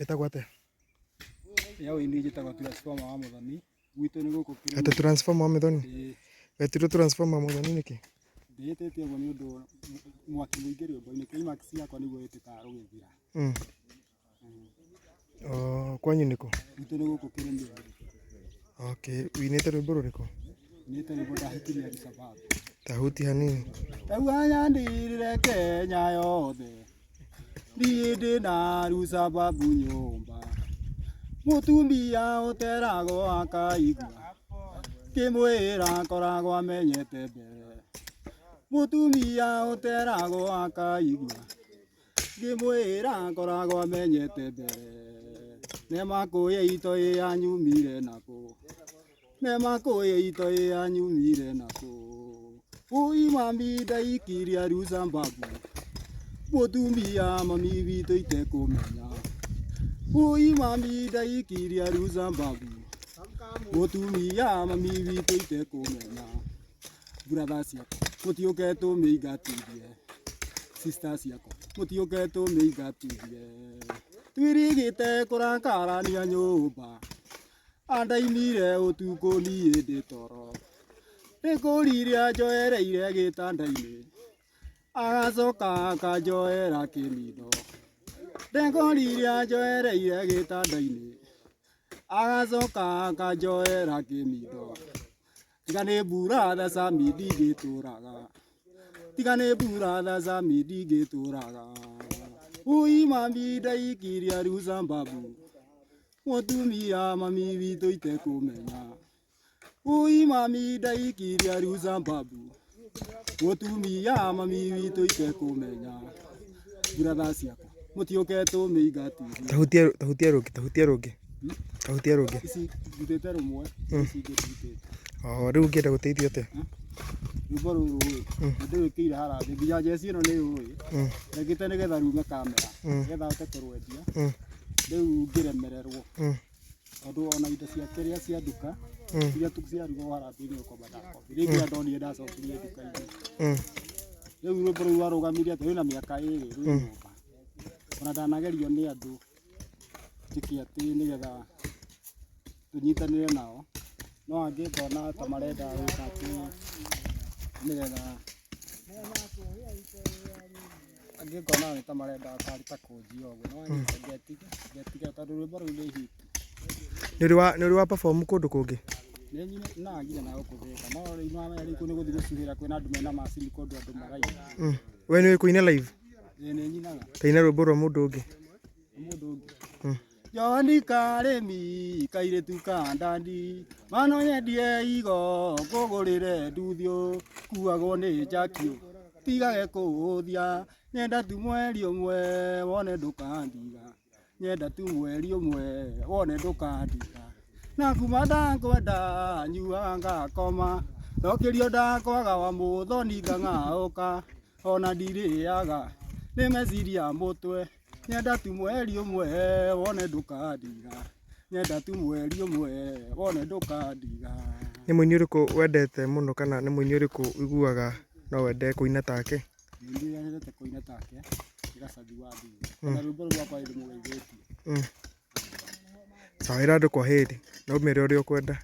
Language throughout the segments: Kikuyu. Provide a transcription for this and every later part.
Ĩtagwo atĩa? Yaũ ini njĩtagwo transformer wa mũthoni. Gwitũ nĩ gũkũ kĩrĩ. Atĩ transformer wa mũthoni? Ĩĩ. Wetirwo transformer wa mũthoni nĩkĩ? Ndĩĩtĩte ũguo nĩ ũndũ mwaki mũingĩ rĩũmba-inĩ. Climax yakwa nĩguo ĩtĩkaga gũgĩthira. Mm. Oh, kwanyu nĩkũ? Gwitũ nĩ gũkũ kĩrĩma. Okay, winĩte rwĩmbo rũrĩkũ? Winĩte rwĩmbo ndahĩtirie Alisababu. Tahuti hanini. Tauhanya ndirire Kenya yothe. Ndĩndĩ na Alisababu nyũmba. Mũtumia ũteragwo akaigua. Kĩmwĩra akoragwo amenyete mbere. Mũtumia ũteragwo akaigua. ngĩmwĩra ngoragwo amenyete mbere nemakũya ito ĩ yanyumire nakũ nemakũya ito ĩ yanyumire nakũ ũi mami ndaikiria rusa mbabu mũtumia mami witũ itekũmenya ũi mami ndaikiria rusa mbabu mũtumia mami witũ itekũmenya brothers yakwa mũtiũke tũmĩingatithie sisters yakwa mũtiũke tũmĩingatithie twirigĩte kũrakarania nyũmba andainire ũtukũ niĩ ndĩ toro nĩkũriria njoereire gĩtanda-inĩ agacoka akanjoera kĩnindo ndekoriria njoereire gĩtanda-inĩ agacoka akanjoera kĩnindo tiga nĩ mbura theca mindi ngĩtũraga tiga nĩ mbura theca mindi ngĩtũraga ui mami ndaikiria rĩu zambabu mũtumia mami witũ itekũmenya ui mami ndaikiria rĩu zambabu Mũtumia mami witũ itekũmenya buratha ciakwa mũtiũke tũmĩinga TV Tahutia tahutia rũngĩ, tahutia rũngĩ. Tahutia rũngĩ. ici ndutĩte rũmwe ici ingĩ ndutĩte Oh, rĩu ũngĩenda gũteithio atĩa? rwĩmbo rũrũ rĩ ndĩrwĩkĩire harambĩ nginya njeci ĩno nĩ ũĩ Mm. ndagĩte nĩgetha rume kamera Mm. nĩgetha hote kũrwendia Mm. rĩu ngĩremererwo Mm. tondũ ona indo ciake rĩa cia nduka iria ciarugwo harambĩ-inĩ gũkomba ndakombi rĩu rĩrĩa ndonire ndacokirie nduka-inĩ rĩu rwĩmbo rũu warũgamire atĩ rwĩna mĩaka ĩrĩ rwĩ nyũmba ona ndanagerio nĩ andũ njĩke atĩ nĩgetha tũnyitanĩre nao no angĩ ngona ta marenda gwĩka atĩ nĩgetha angĩ ngona nĩ ta marenda akari ta kũnjia ũguo no hmm. ngetiga ngetiga tondũ rwĩmbo rũu nĩ hit nĩũrĩ wa nĩũrĩ wa perform kũndũ kũngĩ nagire na gũkũthĩka no rĩu no amenya rĩu nĩ gũthiĩ gũcuhĩra kwĩna andũ mena macini kũndũ andũ maraina hmm. we nĩũĩ kũina live ĩĩ nĩnyinaga kaina rwĩmbo rwa mũndũ ũngĩ mũndũ ũngĩ hmm. Johani karĩmi kairĩtu ka ndandi mano nyendie igo ngũgũrĩre nduthiũ kuagwo nĩ njakio tigage kũũthia nyenda tu mweri ũmwe wone ndũkandiga nyenda tu mweri ũmwe wone ndũkandiga na kuma ndakwenda nyuaga ngakoma ndokĩrio ndakwaga wa mũthoni ngang'aũka ona ndirĩaga nĩ meciria mũtwe nyenda tu mweri ũmwe wone ndũkandiga nyenda tu mweri ũmwe wone ndũkandiga Nĩ mũini ũrĩkũ wendete mũno kana nĩ mũini ũrĩkũ ũiguaga no wende kũina take? ningĩ nyendete kũina take nĩ gacathi wa ndigi na rwĩmbo rũu rwakwa nĩ ndĩmũgeithĩtie Mm. Sawa, ĩra andũ kwa heri na ũmere ũrĩa ũkwenda.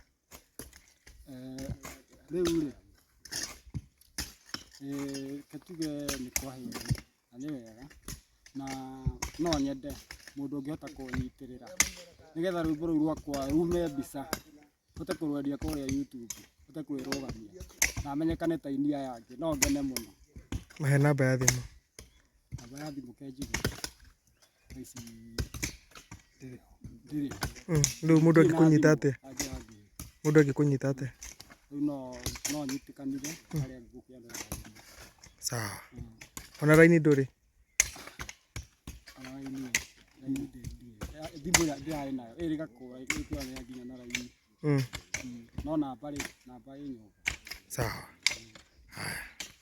Eh, rĩu rĩ eh, katuge nĩ kwa heri na nĩ wega na no nyende mũndũ ũngĩhota kũnyitĩrĩra nĩgetha rwĩmbo rũu rwakwa rume mbica hote kũrwendia kũrĩa YouTube hote kwĩrũgamia na menyekane ta inia yangĩ no ngene mũno. Mahe namba ya thimũ. Namba ya thimũ kenjigũ. Rĩu mũndũ angĩkũnyita atĩa? Mũndũ angĩkũnyita atĩa? Sawa. Ona raini ndũrĩ? Sawa.